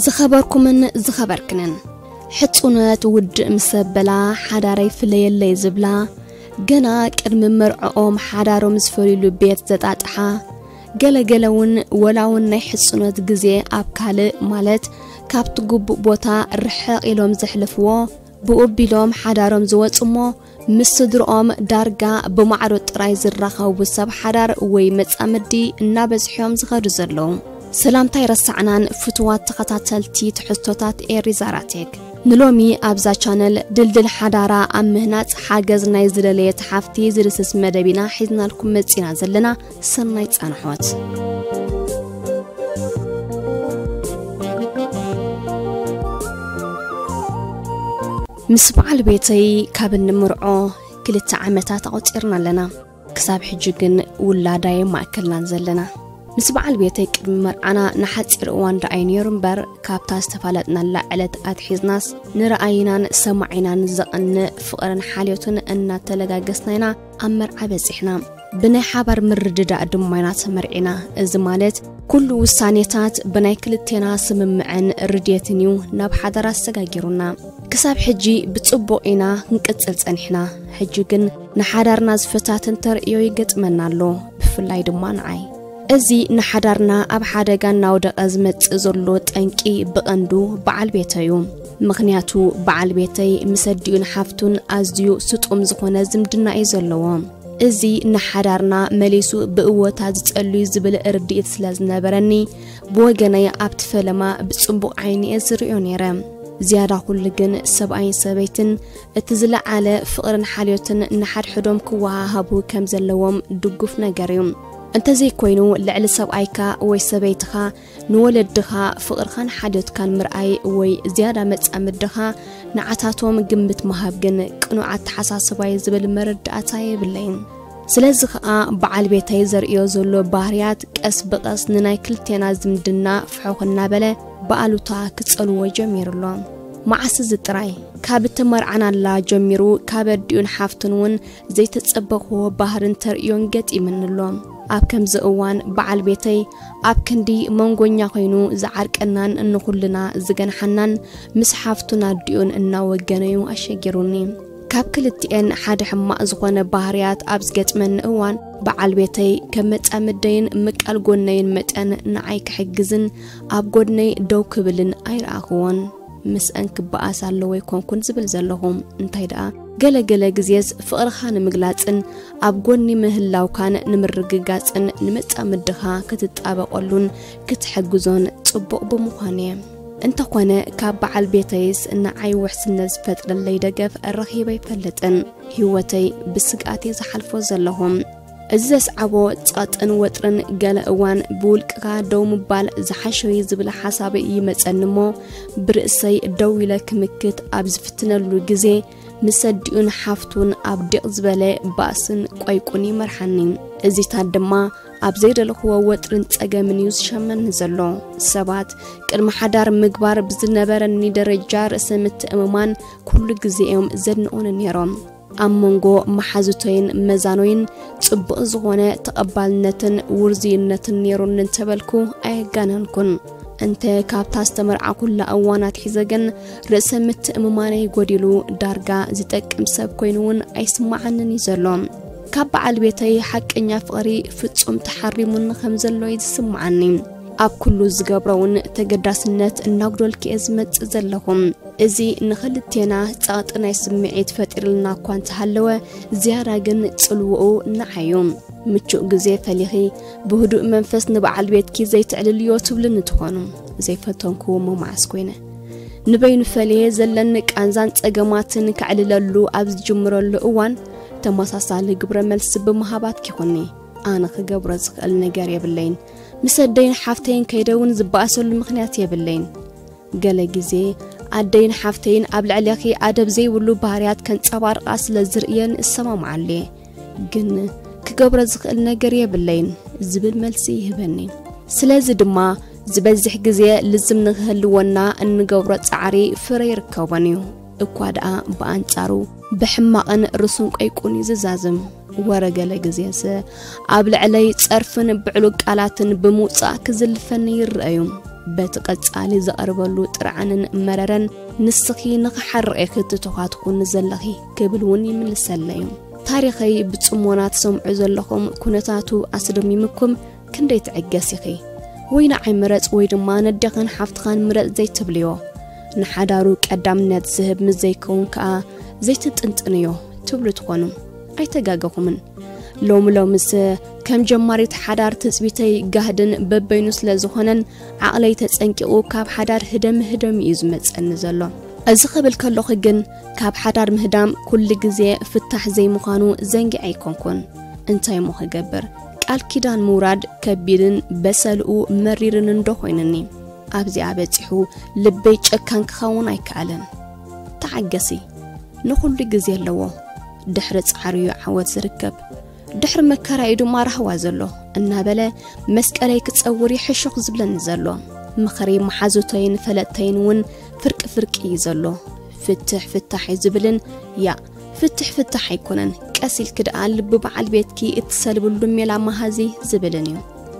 ዝኸበርኩምን ዝኸበርክንን ሕጹነት ውድእ ምስ ኣበላ ሓዳረይ ፍለየለይ ዝብላ ገና ቅድሚ መርዕኦም ሓዳሮም ዝፈልዩሉ ቤት ዘጣጥሓ ገለገለ እውን ወላውን ናይ ሕጽኖት ግዜ ኣብ ካልእ ማለት ካብቲ ግቡእ ቦታ ርሕቕ ኢሎም ዘሕልፍዎ ብኡ ቢሎም ሓዳሮም ዝወጹ እሞ ምስ ስድርኦም ዳርጋ ብማዕዶ ጥራይ ዝራኸቡ ሰብ ሓዳር ወይ መጻምዲ እናበዝሖም ዝኸዱ ዘለዉ ሰላምታይ ረሳዕናን ፍትዋት ተኸታተልቲ ትሕዝቶታት ኤሪዛራቴክ ንሎሚ ኣብዛ ቻነል ድልድል ሓዳራ ኣብ ምህናጽ ሓገዝ ናይ ዝደለየት ሓፍቲ ዝድስስ መደብ ኢና ሒዝናልኩም መጺና ዘለና ሰናይ ጻንሖት ምስ በዓል ቤተይ ካብ እንምርዖ ክልተ ዓመታት ኣቑፂርና ኣለና ክሳብ ሕጂ ግን ውላዳየ ማእከልናን ዘለና ምስ በዓል ቤተይ ቅድሚ መርዓና ንሓፂር እዋን ረኣይ ነይሩ እምበር ካብታ ዝተፋለጥናላ ዕለት ኣትሒዝናስ ንረኣይናን ሰማዒናን ዘቐንእ ፍቕርን ሓልዮትን እናተለጋገስና ኢና ኣብ መርዓ በፂሕና ብናይ ሓባር ምርድዳእ ድማ ኢና ተመርዒና እዚ ማለት ኩሉ ውሳኔታት ብናይ ክልቴና ስምምዕን ርድየትን እዩ ናብ ሓዳር ኣሰጋጊሩና ክሳብ ሕጂ ብፅቡቕ ኢና ክንቅፅል ፀኒሕና ሕጂ ግን ንሓዳርና ዝፈታትን ተርእዮ ይገጥመና ኣሎ ብፍላይ ድማ ንዓይ እዚ ንሓዳርና ኣብ ሓደጋ እናወደቐ ዝመጽእ ዘሎ ጠንቂ ብቐንዱ በዓል ቤተዩ ምኽንያቱ በዓል ቤተይ ምስ ኣዲኡን ሓፍቱን ኣዝዩ ስጡም ዝኾነ ዝምድና እዩ ዘለዎ እዚ ንሓዳርና መሊሱ ብእወታ ዝጸልዩ ዝብል ርድኢት ስለ ዝነበረኒ ብወገነይ ኣብቲ ፈለማ ብጽቡቕ ዓይኒ እየ ዝርእዮ ነይረ ዝያዳ ኩሉ ግን ሰብኣይን ሰበይትን እቲ ዝለዓለ ፍቕርን ሓልዮትን ንሓድሕዶም ክወሃሃቡ ከም ዘለዎም ድጉፍ ነገር እዩ። እንተዘይኮይኑ ልዕሊ ሰብኣይካ ወይ ሰበይትኻ ንወለድኻ ፍቕርኻን ሓልዮትካን ምርኣይ ወይ ዝያዳ መጻምድኻ ንዓታቶም ግምት ምሃብ ግን ቅኑዕ ኣተሓሳስባ እዩ ዝብል መረዳእታ የብለይን። ስለዚ ኸኣ በዓል ቤተይ ዘርእዮ ዘሎ ባህርያት ቀስ ብቐስ ንናይ ክልቴና ዝምድና ፍሑኽ እናበለ ብኣሉታ ክጸልዎ ጀሚሩ ኣሎ። መዓስ እዚ ጥራይ ካብ እተመርዓናላ ጀሚሩ ካብ ኣዲኡን ሓፍቱን እውን ዘይተጸበኽዎ ባህርን ተርእዮን ገጢምኒ ኣሎ። ኣብ ከምዚ እዋን በዓል ቤተይ ኣብ ክንዲ መንጎኛ ኮይኑ ዝዓርቀናን ንኹልና ዝገንሓናን ምስ ሓፍቱን ኣዲኡን እናወገነ'ዩ ኣሸጊሩኒ። ካብ ክልቲኤን ሓደ ሕማቕ ዝኾነ ባህርያት ኣብ ዝገጥመኒ እዋን በዓል ቤተይ ከም መጻምደይን ምቃል ጎነይን መጠን ንዓይ ክሕግዝን ኣብ ጎድነይ ደው ክብልን ኣይረኣኽዎን። ምስእን ክበኣስ ኣለዎ ኣይኮንኩን ዝብል ዘለኹ። እንታይ ደኣ ገለ ገለ ግዜስ ፍቕርኻ ንምግላጽን ኣብ ጎኒ ምህላውካን ንምርግጋጽን ንመጻምድኻ ክትጣበቐሉን ክትሕግዞን ጽቡቕ ብምዃኑ እየ። እንተኾነ ካብ በዓል ቤተይስ ንዓይ ውሕስነት ዝፈጥረለይ ደገፍ ረኺበ ኣይፈልጥን። ህይወተይ ብስግኣት እየ ዝሓልፎ ዘለኹ። እዚ ዘስዓቦ ጸቕጥን ወጥርን ገለ እዋን ብውልቅኻ ደው ምባል ዝሓሸዩ ዝብል ሓሳብ ይመጸኒ እሞ ብርእሰይ ደው ኢለ ክምክት ኣብ ዝፍትነሉ ግዜ ምስ ኣዲኡን ሓፍቱን ኣብ ዲቕ ዝበለ ባእስን ቆይቁን ይመርሓኒ እዚታት ድማ ኣብ ዘይደለኽዎ ወጥርን ጸገምን እዩ ዝሸመኒ ዘሎ ሰባት ቅድሚ ሓዳር ምግባር ብዝነበረኒ ደረጃ ርእሰ ምትእምማን ኩሉ ግዜ እዮም ዘድንቑኒ ነይሮም ኣብ መንጎ መሓዙተይን መዛኖይን ጽቡቕ ዝኾነ ተቐባልነትን ውርዝይነትን ነይሩኒ እንተበልኩ ኣየጋነንኩን። እንተ ካብታ ዝተመርዓኹላ እዋን ኣትሒዘ ግን ርእሰ ምትእምማነይ ጎዲሉ ዳርጋ ዝጠቅም ሰብ ኮይኑ እውን ኣይስማዓንን እዩ ዘሎ። ካብ በዓል ቤተይ ሓቀኛ ፍቕሪ ፍጹም ተሓሪሙኒ ከም ዘሎ እዩ ዝስምዓኒ። ኣብ ኩሉ ዝገብሮ እውን ተገዳስነት እናጉደልኩ እየ ዝመጽእ ዘለኹ። እዚ ንኽልቴና ጸቕጢ ናይ ስምዒት ፈጢርልና እኳ እንተሃለወ ዝያዳ ግን ጽልውኡ ንዓይ እዩ። ምቹእ ግዜ ፈሊኺ ብህዱእ መንፈስ ንበዓል ቤትኪ ዘይተዕልልዮ ትብልኒ ትኾኑ። ዘይፈተንክዎ እሞ መዓስ ኮይነ ንበይኑ ፈልየ ዘለኒ ቃንዛን ጸገማትን ከዕልለሉ ኣብ ዝጅምረሉ እዋን ተመሳሳሊ ግብረ መልሲ ብምሃባት ኪኹኒ ኣነ ክገብሮ ዝኽእል ነገር የብለይን። ምስ ኣደይን ሓፍተይን ከይደ እውን ዝበኣሰሉ ምኽንያት የብለይን። ገለ ግዜ ኣደይን ሓፍተይን ኣብ ልዕሌኺ ኣደብ ዘይብሉ ባህርያት ከንጸባርቓ ስለ ዝርእየን እሰማምዓሉ እየ፣ ግን ክገብሮ ዝኽእል ነገር የብለይን ዝብል መልሲ ይህበኒ። ስለዚ ድማ ዝበዝሕ ግዜ ልዝም ንኽህልወና እንገብሮ ጻዕሪ ፍረ ይርከቦን እዩ፣ እኳ ደኣ ብኣንጻሩ ብሕማቕን ርሱን ቆይቁን ይዝዛዝም። ወረ ገለ ግዜሰ ኣብ ልዕለይ ጸርፍን ብዕሉግ ቃላትን ብምውጻእ ክዝልፈኒ ይረኣዩ በቲ ቀጻሊ ዝቐርበሉ ጥርዓንን መረረን ንስኺ ንኽሓርቕ ኢኺ ትተዃትኩኒ ዘለኺ ክብል እውን ይምልሰለዩ ታሪኸይ ብጽሞና ትሰምዑ ዘለኹም ኩነታቱ ኣስደሚምኩም ክንደይ ትዕገስ ኢኺ ወይ ንዓይ ምረጽ ወይ ድማ ነደኽን ሓፍትኻን ምረጽ ዘይትብልዮ ንሓዳሩ ቀዳምነት ዝህብ ምስ ዘይከውን ከኣ ዘይትጥንጥንዮ ትብሉ ትኾኑ ኣይተጋገኹምን ሎሚ ሎምስ ከም ጀማሪት ሓዳር ትጽቢተይ ጋህድን በበይኑ ስለ ዝኾነን ዓቕለይ ተጸንቂቑ ካብ ሓዳር ህደም ህደም እዩ ዝመጸኒ ዘሎ እዚ ክብል ከለኹ ግን ካብ ሓዳር ምህዳም ኩሉ ግዜ ፍታሕ ዘይምዃኑ ዘንጊዐ ኣይኮንኩን እንታይ እሞ ክገብር ቃል ኪዳን ምውራድ ከቢድን በሰልኡ መሪርን እንዶ ኮይንኒ ኣብዚኣ በጺሑ ልበይ ጨካን ክኸውን ኣይከኣለን ተዓገሲ ንኹሉ ግዜ ኣለዎ ድሕሪ ጻዕሪ እዩ ዓወት ዝርከብ ድሕሪ መከራ እዩ ድማ ራህዋ ዘሎ እናበለ መስቀለይ ክጸውር ይሕሹኽ ዝብለኒ ዘሎ ምኽሪ መሓዙተይን ፈለጥተይን እውን ፍርቂ ፍርቂ እዩ ዘሎ ፍትሕ ፍታሕ እዩ ዝብልን ያ ፍትሕ ፍታሕ ኣይኮነን ቀስ ኢልኪ ደኣ ልቢ በዓል ቤትኪ እትሰልብሉ ሜላ መሃዚ ዝብልን እዩ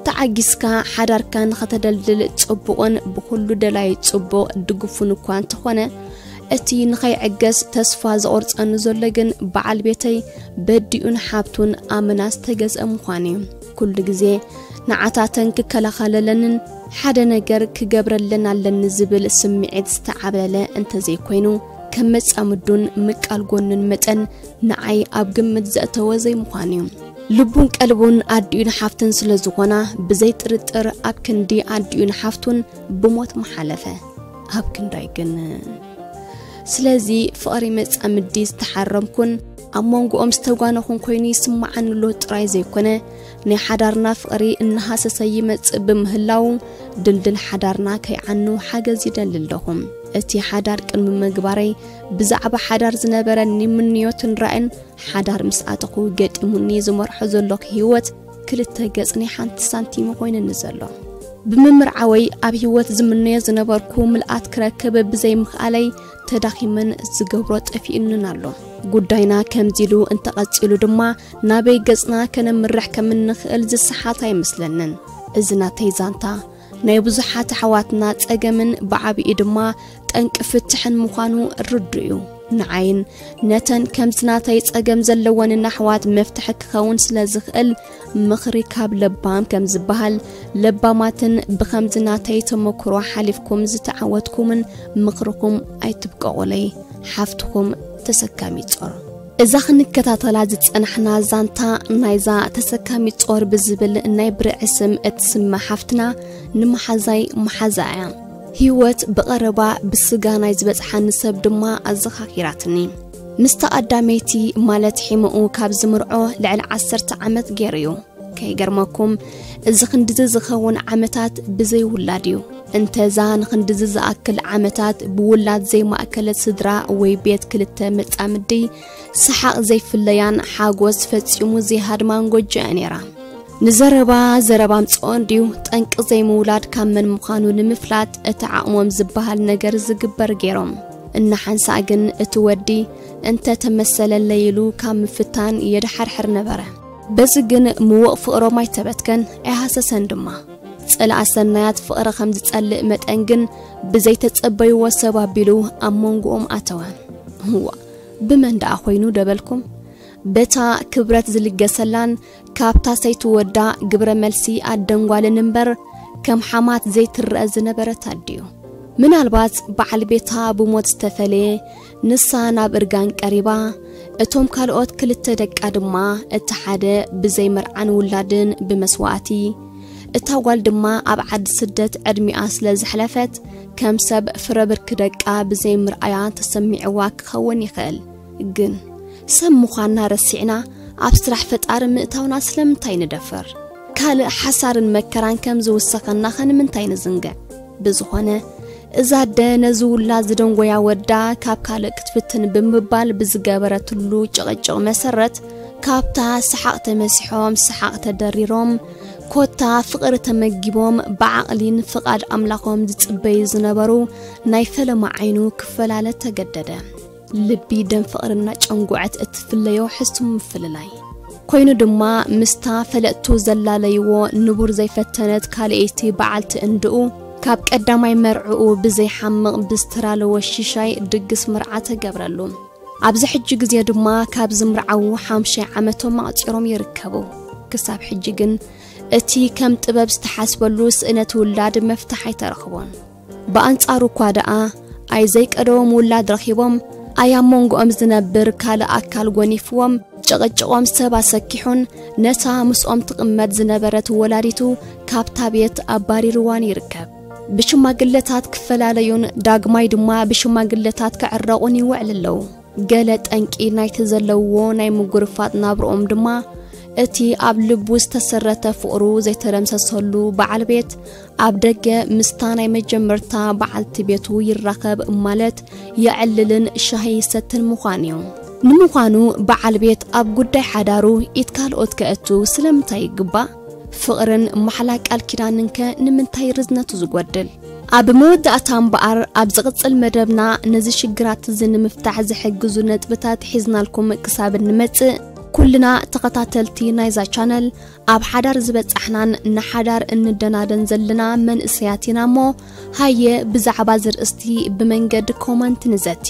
ተዓጊስካ ሓዳርካ ንኸተደልድል ጽቡቕን ብኹሉ ደላይ ጽቡቕ ድግፉን እኳ እንተኾነ እቲ ንኸይዕገስ ተስፋ ዘቑርጸኒ ዘሎ ግን በዓል ቤተይ በዲኡን ሓብቱን ኣመና ዝተገዝአ ምዃኑ እዩ ኩሉ ግዜ ንዓታተን ክከላኸለለንን ሓደ ነገር ክገብረለን ኣለኒ ዝብል ስምዒት ዝተዓብለለ እንተዘይኮይኑ ከም መጻምዱን ምቃል ጎኑን መጠን ንዓይ ኣብ ግምት ዘእተወ ዘይምዃን እዩ ልቡን ቀልቡን ኣዲኡን ሓፍትን ስለ ዝኾና ብዘይ ጥርጥር ኣብ ክንዲ ኣዲኡን ሓፍቱን ብሞት መሓለፈ ኣብ ክንዳይ ግን ስለዚ ፍቕሪ መጻምዲ ዝተሓረምኩን ኣብ መንጎኦም ዝተጓነኹን ኮይኑ ይስምዓኒ ኣሎ ጥራይ ዘይኮነ ናይ ሓዳርና ፍቕሪ እናሃሰሰ ይመጽእ ብምህላዉ ድልድል ሓዳርና ከይዓኑ ሓገዝ ይደሊ ኣለኹ። እቲ ሓዳር ቅድሚ ምግባረይ ብዛዕባ ሓዳር ዝነበረኒ ምንዮትን ራእን ሓዳር ምስ ኣተኹ ገጢሙኒ ዝመርሖ ዘለኹ ህይወት ክልተ ገጽ ናይ ሓንቲ ሳንቲም ኮይንኒ ዘሎ ብምምርዓወይ ኣብ ህይወት ዝምነዮ ዝነበርኩ ምልኣት ክረክብ ብዘይምኽኣለይ ተዳኺመን ዝገብሮ ጠፊኡንን ኣሎ። ጉዳይና ከምዚ ኢሉ እንተቐጺሉ ድማ ናበይ ገጽና ከነምርሕ ከም እንኽእል ዝሰሓት ኣይመስለንን። እዚ ናተይ ዛንታ ናይ ብዙሓት ኣሕዋትና ጸገምን ብዓቢኡ ድማ ጠንቂ ፍትሕን ምዃኑ ርዱእ እዩ። ንዓይን ነተን ከምዚ ናተይ ጸገም ዘለወንን ኣሕዋት መፍትሒ ክኸውን ስለ ዝኽእል ምኽሪ ካብ ለባም ከም ዝበሃል ለባማትን ብኸምዚ ናተይ ተመክሮ ሓሊፍኩም ዝተዓወትኩምን ምኽርኹም ኣይትብቀቑለይ ሓፍትኹም ተሰካሚ ጾር እዛ ክንከታተላ ዝጸናሕና ዛንታ ናይዛ ተሰካሚ ጾር ብዝብል ናይ ብርዒ ስም እትስመ ሓፍትና ንመሓዛይ መሓዛ እያ ህይወት ብቐረባ ብስጋ ናይ ዝበጽሓኒ ሰብ ድማ ኣዘኻኺራትኒ ምስታ ኣዳመይቲ ማለት ሒመኡ ካብ ዝምርዖ ልዕሊ ዓሰርተ ዓመት ገይሩ እዩ ከይገርመኩም እዚ ክንድዚ ዝኸውን ዓመታት ብዘይውላድ እዩ እንተዛ ንክንድዚ ዝኣክል ዓመታት ብውላድ ዘይማእከለት ስድራ ወይ ቤት ክልተ መጻምዲ ሰሓቕ ዘይፍለያን ሓጎስ ፈጺሙ ዘይሃድማን ጎጆ እያ ነይራ ንዘረባ ዘረባ ምፅኦ እንድዩ ጠንቂ ዘይምውላድ ካብ መን ምዃኑ ንምፍላጥ እቲ ዓቕሞም ዝበሃል ነገር ዝግበር ገይሮም እናሓንሳእ ግን እቲ ወዲ እንተ ተመሰለለይ ኢሉ ካብ ምፍታን የድሓርሕር ነበረ። በዚ ግን ምዉቕ ፍቕሮም ኣይተበትከን፣ ኣይሃሰሰን ድማ። ጸላኢ ሰናያት ፍቕሪ ከም ዝጸልእ መጠን ግን ብዘይተጸበይዎ ሰብ ኣቢሉ ኣብ መንጎኦም ኣተወ። ዋእ ብመን ደኣ ኾይኑ ደበልኩም? በታ ክብረት ዝልገሰላን ካብታ ሰይቲ ወዳ ግብረ መልሲ ኣደን ጓልን እምበር ከም ሓማት ዘይትረኣ ዝነበረት ኣዲዮ። ምናልባት በዓል ቤታ ብሞት ዝተፈለየ ንሳ ናብ እርጋን ቀሪባ፣ እቶም ካልኦት ክልተ ደቃ ድማ እቲ ሓደ ብዘይ መርዓን ውላድን ብመስዋእቲ፣ እታ ጓል ድማ ኣብ ዓዲ ስደት ዕድሚኣ ስለ ዘሕለፈት ከም ሰብ ፍረ ብርኪ ደቃ ብዘይ ምርኣያ ተሰሚዕዋ ክኸውን ይኽእል። ግን ሰብ ምዃንና ረሲዕና ኣብ ስራሕ ፈጣሪ ምእታውና ስለምንታይ ንደፈር? ካልእ ሓሳርን መከራን ከም ዝውሰኸናኸ ንምንታይ ንዝንግዕ? ብዝኾነ እዛ ኣደ ነዚ ውላድ ዝደንጎያ ወዳ ካብ ካልእ ክትፍትን ብምባል ብዝገበረትሉ ጭቕጭቕ መሰረት ካብታ ሰሓቕ ተመሲሖም ሰሓቕ ተደሪሮም ኮታ ፍቕሪ ተመጊቦም ብዓቕሊን ፍቓድ ኣምላኾም ዝጽበዩ ዝነበሩ ናይ ፈለማ ዓይኑ ክፈላለ ተገደደ። ልቢ ደም ፍቕሪ እናጨንጉዐት እትፍለዮ ሕሱም ምፍልላይ ኮይኑ ድማ ምስታ ፈለጥቱ ዘላለይዎ ንቡር ዘይፈተነት ካልኣይቲ በዓልቲ እንድኡ ካብ ቀዳማይ መርዕኡ ብዘይሓምቕ ብስትራለ ወሺሻይ ድግስ ምርዓ ተገብረሉ። ኣብዚ ሕጂ ግዜ ድማ ካብ ዝምርዓዉ ሓምሻይ ዓመቶም ኣቕፂሮም ይርከቡ። ክሳብ ሕጂ ግን እቲ ከም ጥበብ ዝተሓስበሉ ስእነት ውላድ መፍትሕ ኣይተረኽቦን። ብኣንጻሩ እኳ ደኣ ኣይ ዘይቀደዎም ውላድ ረኺቦም፣ ኣይ ኣብ መንጎኦም ዝነብር ካልእ ኣካል ጎኒፍዎም፣ ጭቕጭቖም ሰብ ኣሰኪሑን ነታ ምስኦም ትቕመጥ ዝነበረት ወላዲቱ ካብታ ቤት ኣባሪርዋን ይርከብ። ብሽማግለታት ክፈላለዩን ዳግማይ ድማ ብሽማግለታት ክዕረቑን ይውዕል ኣለዉ። ገለ ጠንቂ ናይቲ ዘለውዎ ናይ ምጉርፋጥ ናብርኦም ድማ እቲ ኣብ ልቡ ዝተሰረተ ፍቕሩ ዘይተደምሰሰሉ በዓል ቤት ኣብ ደገ ምስታ ናይ መጀመርታ በዓልቲ ቤቱ ይራኸብ ማለት የዕልልን ሻሂ ይሰትን ምዃን እዩ። ንምዃኑ በዓል ቤት ኣብ ጉዳይ ሓዳሩ ኢት ካልኦት ከእቱ ስለምንታይ ይግባእ? ፍቕርን ማሕላ ቃል ኪዳንንከ ንምንታይ ርዝነቱ ዝጎድል? ኣብ መወዳእታ እምበኣር ኣብ ዝቕጽል መደብና ነዚ ሽግራት እዚ ንምፍታሕ ዝሕግዙ ነጥብታት ሒዝናልኩም ክሳብ እንመጽእ ኩልና ተኸታተልቲ ናይዛ ቻነል ኣብ ሓዳር ዝበጻሕናን ንሓዳር እንደናደን ዘለና መንእሰያት ኢና እሞ ሃየ ብዛዕባ እዚ ርእስቲ ብመንገዲ ኮመንት ንዘቲ።